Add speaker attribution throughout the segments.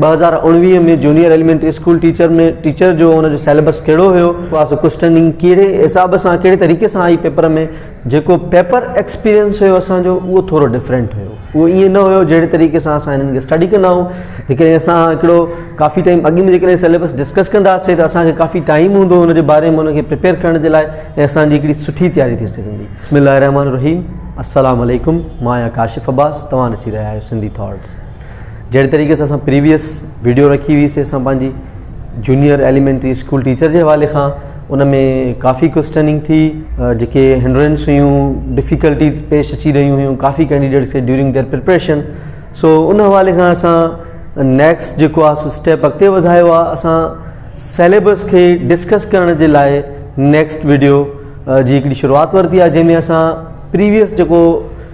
Speaker 1: ٻه هزار اوڻويهه ۾ junior elementary school teacher ۾ teacher جو ان جو سيليبس ڪهڙو هيو پاس ڪوسٽننگ ڪهڙي حساب سان ڪهڙي طريقي سان آئي پيپر ۾ جيڪو پيپر ايڪسپيرينس هيو اسان جو اهو ٿورو ڊفرينٽ هيو اهو ائين نه هيو جهڙي طريقي سان اسان هنن کي اسٽڊي ڪندا آهيون جيڪڏهن اسان هڪڙو ڪافي ٽائيم اڳ ۾ جيڪڏهن سيليبس ڊسڪس ڪنداسي ته اسان کي ڪافي ٽائيم هوندو ان جي باري ۾ ان کي پريپيئر ڪرڻ جي لاء ۽ اسان جي هڪڙي سٺي تياري ٿي سگهندي بسم الله الرحمن الرحيم السلام عليڪم مان آهيان ڪاشف عباس توهان ڏسي رهيا آهيو سنڌي ٿاٽس جهڙي طريقي سان اسان پريويس ويڊيو رکي هئي سي اسان پنهنجي جونيئر ايليمينٽري اسڪول ٽيچر جي حوالي کان ان ۾ ڪافي ڪجهه ٽرننگ ٿي جيڪي هنڊرنس هيون ڊفيڪلٽيز پيش اچي رهيون هيون ڪافي ڪينڊيڊيٽس کي ڊيورنگ ديئر پريپريشن سو ان حوالي کان اسان نيڪسٽ جيڪو آ سو اسٽيپ اڳتي وڌايو آ اسان سيليبس کي ڊسڪس ڪرڻ جي لاء نيڪسٽ ويڊيو جي هڪڙي شروعات ورتي آ جنهن ۾ اسان پريويس جيڪو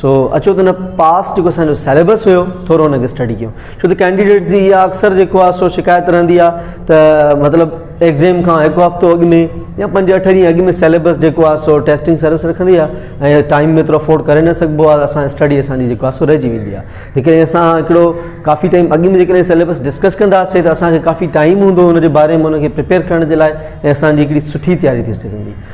Speaker 1: سو اچو ته ان پاسٽ جيڪو اسان جو سيليبس هيو ٿورو ان کي اسٽڊي ڪيون ڇو ته ڪينڊيڊيٽس جي اها اڪثر جيڪو آ سو شڪايت رهندي آ ته مطلب ايگزيم کان هڪ هفتو اڳ ۾ يا پنج اٺ ڏينهن اڳ ۾ سيليبس جيڪو آ سو ٽيسٽنگ سروس رکندي آ ۽ ٽائيم ۾ ايترو افورڊ ڪري نه سگهبو آ اسان اسٽڊي اسان جي جيڪو آ سو رهجي ويندي آ جيڪڏهن اسان هڪڙو ڪافي ٽائيم اڳ ۾ جيڪڏهن سيليبس ڊسڪس ڪنداسين ته اسان کي ڪافي ٽائيم هوندو ان جي باري ۾ ان کي پريپيئر ڪرڻ جي لاء ۽ اسان جي هڪڙي سٺي تياري ٿي سگهندي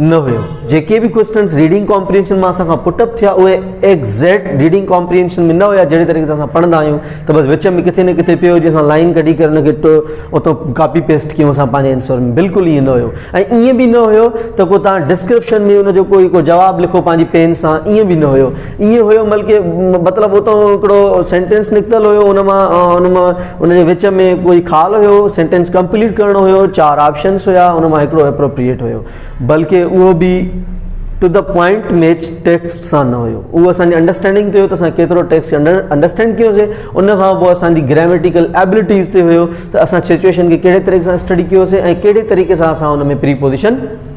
Speaker 1: نه هيو جيڪي به ڪوئسٽنس ريڊنگ ڪامپرينشن مان اسان کان پٽ اپ ٿيا اهي ايگزيڪٽ ريڊنگ ڪامپرينشن ۾ نه هيا جهڙي طريقي سان اسان پڙهندا آهيون ته بس وچ ۾ ڪٿي نه ڪٿي پيو هجي اسان لائن ڪڍي ڪري ان کي اتو ڪاپي پيسٽ ڪيون اسان پنهنجي انسور ۾ بلڪل ائين نه هيو ۽ ائين به نه هيو ته ڪو تان ڊسڪرپشن ۾ ان جو ڪوئي ڪو جواب لکو پنهنجي پين سان ائين به نه هيو ايئن هيو بلڪ مطلب اتان هڪڙو سينٽينس نڪتل هيو ان مان ان مان ان جي وچ ۾ ڪوئي خال هيو سينٽينس ڪمپليٽ ڪرڻو هيو چار آپشنس هيا ان مان هڪڙو اپروپريئيٽ هيو بلڪ اهو به to the point match text سان نه هيو اهو اسانجي انڊرسٽينڊنگ تي هيو ته اسان ڪيترو ٽيڪسٽ انڊرسٽينڈ ڪيوسي ان کان پوء اسانجي گراميٽيڪل ايبلٽيز تي هيو ته اسان سچويشن کي ڪهڙي طريقي سان اسٽڊي ڪيوسي ۽ ڪهڙي طريقي سان اسان ان ۾ پري پوزيشن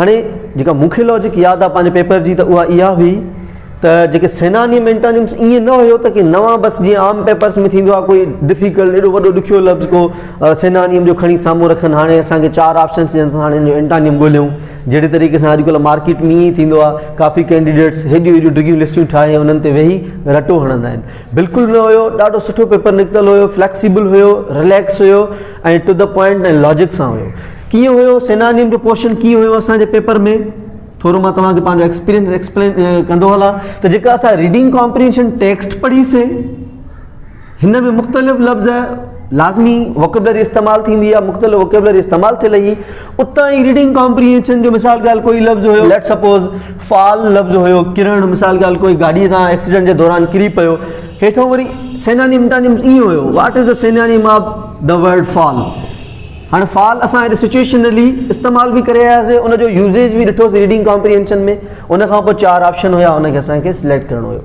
Speaker 1: هاڻي جيڪا مون کي لاجڪ ياد آهي پنهنجي پيپر جي ته اها اها هئي ته جيڪي سينانيم انٽانيمس ائين نه هيو ته ڪيئن نوان بس جيئن عام پيپرس ۾ ٿيندو آهي ڪوئي ڊفيڪلٽ ايڏو وڏو ڏکيو لفظ ڪو سينانيم جو کڻي سامهون رکن هاڻي اسانکي چار آپشنس ڏينس هاڻي جو انٽانيم ڳوليون جهڙي طريقي سان اڄکل مارڪيٽ ۾ ائين ٿيندو آهي ڪافي ڪينڊيڊيٽس هيڏيون هيڏيون ڊگهيون لسٽيون ٺاهي انهن تي ويهي رٽو هڻندا آهن بلڪل نه هيو ڏاڍو سٺو پيپر نڪتل هيو فليڪسيبل هيو رليڪس هيو ۽ ٽو دي پوائنٽ ۽ لاجڪ سان هيو. ڪيئن هيو سينارين جو پورشن ڪيئن هيو اسان جي پيپر ۾ ٿورو مان توهان کي پنهنجو ايڪسپيرينس ايڪسپلين ڪندو هلان ته جيڪا اسان ريڊنگ ڪامپرينشن ٽيڪسٽ پڙهي سي هن ۾ مختلف لفظ لازمي وڪبلري استعمال ٿيندي آهي مختلف وڪبلري استعمال ٿيل هئي اتان ئي ريڊنگ ڪامپريهنشن جو مثال ڳالهه ڪوئي لفظ هيو ليٽس سپوز فال لفظ هيو ڪرڻ مثال ڳالهه ڪوئي گاڏي سان ايڪسيڊنٽ جي دوران ڪري پيو هيٺون وري سينانيم ٽانيم ائين هيو واٽ is the synonym of the word fall هاڻ فال اسان هيڏي سچويشنلي استعمال به ڪري آياسي ان جو يوزيج به ڏٺوسي ريڊنگ ڪامپريهنشن ۾ ان کان پوء چار آپشن هيا ان کي اسانکي سليڪٽ ڪرڻو هيو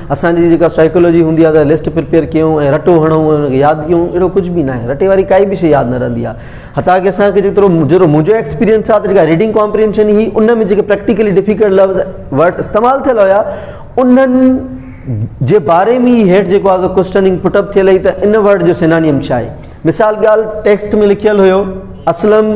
Speaker 1: اسان جي جيڪا سائيڪولوجي هوندي آهي ته لسٽ پريپيئر ڪيون ۽ رٽو هڻون ۽ ان کي ياد ڪيون اهڙو ڪجهه به ناهي رٽي واري ڪائي به شيء ياد نه رهندي آهي حتا ڪي اسان کي جيترو جهڙو منهنجو ايڪسپيريئنس آهي ته جيڪا ريڊنگ ڪامپرينشن هئي ان ۾ جيڪي پريڪٽيڪلي ڊفيڪلٽ لفظ ورڊس استعمال ٿيل هيا انهن جي باري ۾ هي هيٺ جيڪو آهي ڪوسٽننگ پٽ اپ ٿيل هئي ته ان ورڊ جو سينانيم ڇا آهي مثال ڳالهه ٽيڪسٽ ۾ لکيل هيو اسلم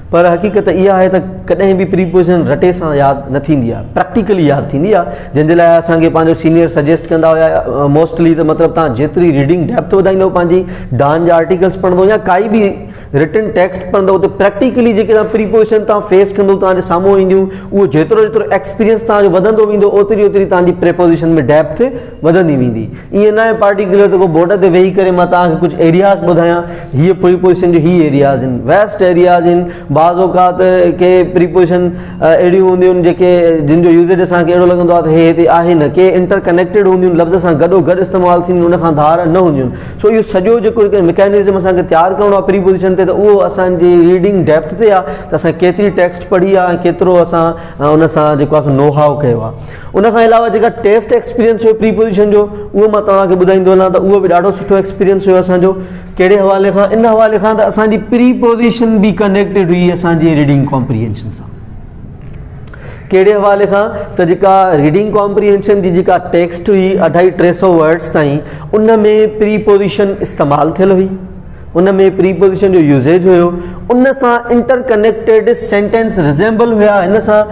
Speaker 1: پر حقيقت اها آهي ته ڪڏهن به پريپوزيشن رٽي سان ياد نه ٿيندي آهي پريڪٽيڪلي ياد ٿيندي آهي جنهن جي لاء اسان کي پنهنجو سينيئر سجيسٽ ڪندا هيا موسٽلي ته مطلب تان جيتري ريڊنگ ڊيپٿ وڌائيندو پنهنجي ڊان جا آرٽيڪلس پڙهندو يا ڪائي به رٽن ٽيڪسٽ پڙهندو ته پريڪٽيڪلي جيڪي تان پريپوزيشن تان فيس ڪندو تان جي سامهون اينديون اهو جيترو جيترو ايڪسپيرينس تان جو وڌندو ويندو اوتري اوتري تان جي پريپوزيشن ۾ ڊيپٿ وڌندي ويندي. ائين ناهي پارٽيڪولر ته ڪو بورڊ تي ويهي ڪري مان توهان کي ڪجهه ايرياز ٻڌايان هيء پريپوزيشن جو هي ايرياز آهن ويسٽ ايرياز آهن بعض اوقات ڪي پريپوزيشن اهڙيون هونديون آهن جيڪي جن جو يوزيج اسان کي اهڙو لڳندو آهي ته هي هتي آهي نه ڪي انٽر ڪنيڪٽيڊ هونديون آهن لفظ سان گڏو گڏ استعمال ٿينديون ان کان ڌار نه هونديون آهن سو اهو سڄو جيڪو هڪ ميڪانزم اسان کي تيار ڪرڻو آهي پريپوزيشن تي ته اهو اسان جي ريڊنگ ڊيپٿ تي آهي ته اسان ڪيتري ٽيڪسٽ پڙهي آهي ڪيترو اسان ان سان جيڪو آهي سو نو هاء ڪيو آهي ان کان علاوه جيڪا ٽيسٽ ايڪسپيرينس هيو پري پوزيشن جو اهو مان توهان کي ٻڌائي ٿو هلان ته اهو به ڏاڍو سٺو ايڪسپيرينس هيو اسانجو ڪهڙي حوالي کان ان حوالي کان ته اسانجي پري پوزيشن به ڪنيڪٽيڊ هئي اسانجي ريڊنگ ڪامپريهينشن سان ڪهڙي حوالي کان ته جيڪا ريڊنگ ڪامپريهينشن جي جيڪا ٽيڪسٽ هئي اڍائي ٽي سو ورڊس تائين ان ۾ پري پوزيشن استعمال ٿيل هئي ان ۾ پري پوزيشن جو يوزيج هيو ان سان انٽر ڪنيڪٽيڊ سينٽينس ريزيمبل هيا ان سان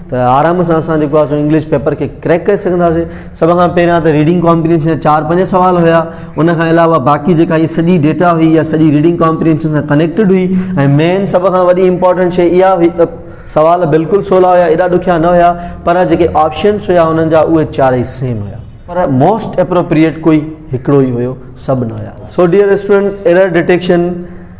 Speaker 1: ته آرام سان اسان جيڪو آهي سو انگلش پيپر کي ڪريڪ ڪري سگهنداسين سڀ کان پهريان ته ريڊنگ ڪامپرينشن جا چار پنج سوال هيا ان کان علاوه باقي جيڪا هي سڄي ڊيٽا هئي يا سڄي ريڊنگ ڪامپرينشن سان ڪنيڪٽيڊ هئي ۽ مين سڀ کان وڏي امپورٽنٽ شي اها هئي ته سوال بلڪل سولا هيا ايڏا ڏکيا نه هيا پر جيڪي آپشنس هيا انهن جا اهي چارئي سيم هيا پر موسٽ اپروپريئيٽ ڪوئي هڪڙو ئي هيو سڀ نه هيا سو ڊيئر اسٽوڊنٽ ايرر ڊيٽيڪشن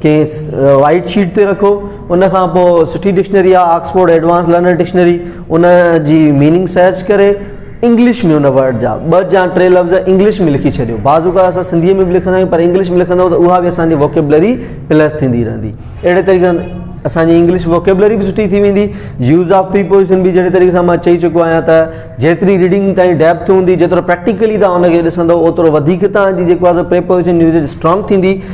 Speaker 1: کيس وائيٽ شيٽ تي رکو ان کان پوء سٺي ڊڪشنري آ آڪسفورڊ ايڊوانس لرنر ڊڪشنري ان جي ميننگ سرچ ڪري انگلش ۾ ان ورڊ جا ٻه جا ٽي لفظ انگلش ۾ لکي ڇڏيو بعض اوقات اسان سنڌي ۾ به لکندا آهيون پر انگلش ۾ لکندو ته اها به اسان جي ووڪيبلري پلس ٿيندي رهندي اهڙي طريقي اسان جي انگلش ووڪيبلري به سٺي ٿي ويندي يوز آف پريپوزيشن به جهڙي طريقي سان مان چئي چڪو آهيان ته جيتري ريڊنگ تائين ڊيپٿ هوندي جيترو پريڪٽيڪلي تان ان کي ڏسندو اوترو وڌيڪ تان جي جيڪو آهي سو پريپوزيشن يوزيج اسٽرانگ ٿيندي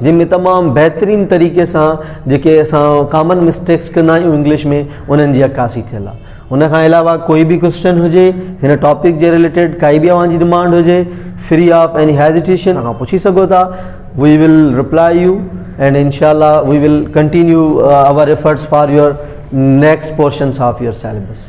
Speaker 1: جنهن ۾ تمام بهترين طريقي سان جيڪي اسان ڪامن مسٽيڪس ڪندا آهيون انگلش ۾ انهن جي عڪاسي ٿيل آهي ان کان علاوه ڪوئي به ڪوشچن هجي هن ٽاپڪ جي ريليٽيڊ ڪائي به اوهان جي ڊمانڊ هجي فري آف ايني هيزيٽيشن کان پڇي سگهو ٿا we will reply you and انشاء الله we will continue our efforts for your next portions of your syllabus